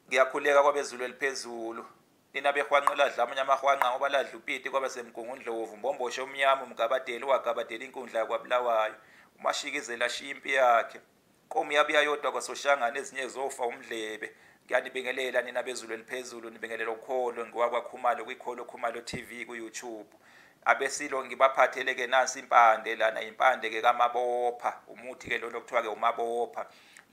ngiyakhuleka kwabezulu eliphezulu nina behwanqa ladla amanye amahwanqa ngoba ladla upiti kwaba semgungundlovu mbomboshe omnyama umgabadeli owagabadela inkundla yakwabulawayo umashikizela ashiya impi yakhe qomu yabuya yodwa kwasoshangane ezinye zofa umdlebe ngiyanibingelela nina bezulu eliphezulu nibingelela ukholo ngiwakwakhumalo kwikholo khumalo tv kuyoutube abesilo ngibaphathele-ke nansi impande lana impande-ke kamabopha umuthi-ke lona okuthiwa-ke umabopha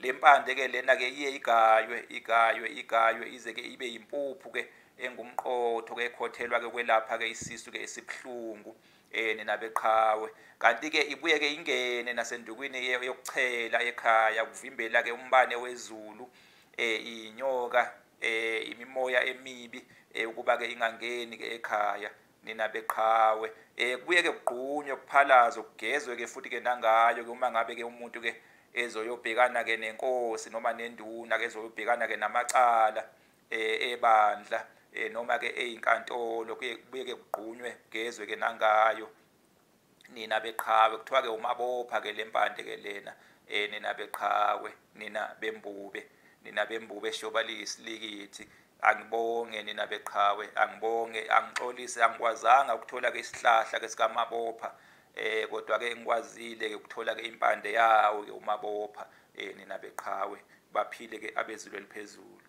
le mpande ke lena ke iye igaywe igaywe igaywe ize ke ibe yimpuphu ke engumqotho ke ekhothelwa ke kwelapha ke isisu ke esibuhlungu eh nina beqhawe kanti ke ibuye ke ingene nasendukwini yokuchela ekhaya kuvimbela ke umbane wezulu eh inyoka eh imimoya emibi eh ukuba ke ingangeni ke ekhaya nina beqhawe eh kubuye ke kugqunywe kuphalaze kugezwe ke futhi ke nangayo ke uma ngabe ke umuntu ke ezoyobhekana ke nenkosi noma nenduna ke ezoyobhekana ke namacala eh ebandla eh noma ke ezinkantolo kubuye ke kugqunywe kugezwe ke nangayo nina beqhawe kuthiwa ke umabopha ke lempande ke lena eh nina beqhawe nina bembube nina bembube shoba liyisilikithi angibonge nina beqhawe angibonge angixolise angikwazanga ukuthola ke isihlahla ke sikamabopha eh kodwa ke ngikwazile ke ukuthola ke impande yawo ke umabopha eh nina beqhawe baphile ke abezulu eliphezulu